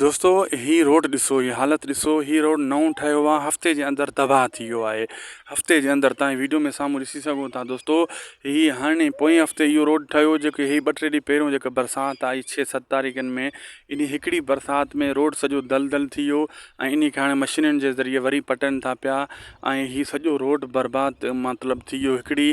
دوستو هي روڊ ڏسو هي حالت ڏسو هي روڊ نئون ٺهيو آ هفتي جي اندر تباهه ٿي ويو آهي هفتي جي اندر تان ويڊيو ۾ سامهون ڏسي سگهو ٿا دوستو هي هاڻي پوئين هفتي اهو روڊ ٺهيو جيڪي هي ٻه ٽي ڏينهن پهريون جيڪا برسات آئي ڇهه ست تاريخن ۾ ان هڪڙي برسات ۾ روڊ سڄو دل دل ٿي ويو ۽ ان کي هاڻي مشينن جي ذريعي وري پٽن ٿا پيا ۽ هي سڄو روڊ برباد مطلب ٿي ويو هڪڙي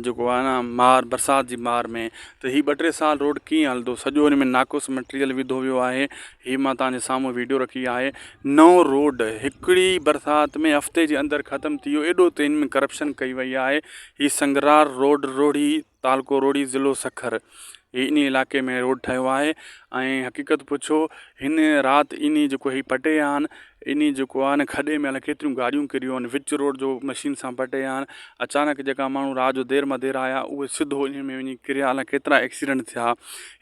جيڪو آ ن مار برسات جي مار ۾ ته هي ٻه ٽي سال روڊ ڪيئن هلندو سڄو هن ۾ ناقص مٽيريل وڌو ويو آهي هي مان توهان جي سامهون ويڊيو رکي آهي نئون روڊ هڪڙي برسات ۾ هفتي جي اندر ختم ٿي ويو ايڏو ته هن ۾ ڪرپشن ڪئي وئي آهي هي سنگرار روڊ روهڙي تعلقو روهڙي ضلعو سکر هي انهي علاقي ۾ روڊ ٺهيو آهي ۽ حقيقت پڇو هن رات انهي جيڪو هي پٽي آهن انهي جيڪو آهي نه کڏي ۾ الائي ڪيتريون گاڏيون ڪريون آهن وچ روڊ جو مشين سان پٽي آهن اچانڪ جيڪا ماڻهو رات جو دير مدير آيا اهي سڌو انهي ۾ وڃي ڪريا الائي ڪيترا ايڪسيڊنٽ ٿيا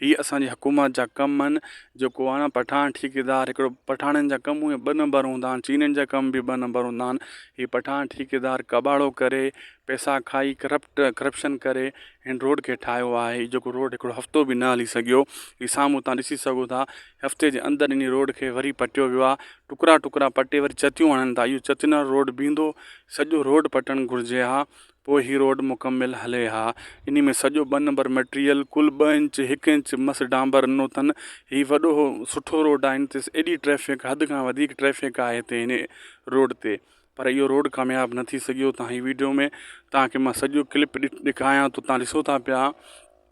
هي اسان جي حڪومت جا ڪم آهن جيڪو آهي نه پٺاڻ ٺيڪيدار هڪڙو پٺاڻن جا ڪم اهي ٻه نمبر هوندا آهن چينين جا ڪم به ٻه نمبر هوندا آهن هي پٺاڻ ٺيڪيدار ڪٻاڙو ڪري پيسا کائي ڪرپٽ ڪرپشن ڪري هن روڊ کي ٺاهيو آهي جيڪو روڊ هڪڙو هفتو به نه هلي سگهيو هي سامهون تان ڏسي سگهو ٿا هفتي جي اندر انهي روڊ کي وري پٽيو ويو آهي ٽڪرا ٽڪرا پٽي وري چتيون هڻن ٿا اهو چتين وارو روڊ بيهندو سڄو روڊ پٽڻ گهرجي ها پوء هي روڊ مڪمل هلي ها انهي ۾ سڄو ٻه نمبر مٽريل ڪل ٻه انچ هڪ انچ مس ڊانبر رنو اٿن هي وڏو سٺو روڊ آهن تي ايڏي ٽريفڪ حد کان وڌيڪ ٽريفڪ آهي هتي هن روڊ تي پر اهو روڊ ڪامياب نه ٿي سگهيو تهائين ويڊيو ۾ تهانکي مان سڄو ڪلپ ڏيکايان ٿو تهان ڏسو ٿا پيا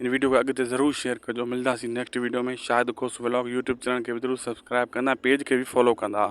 هن ويڊيو کي اڳتي ضرور شيئر ڪجو ملداسين next video ۾ Shahid Khos vlog YouTube channel کي به ضرور سبسڪرائب ڪندا پيج کي به فالو ڪندا.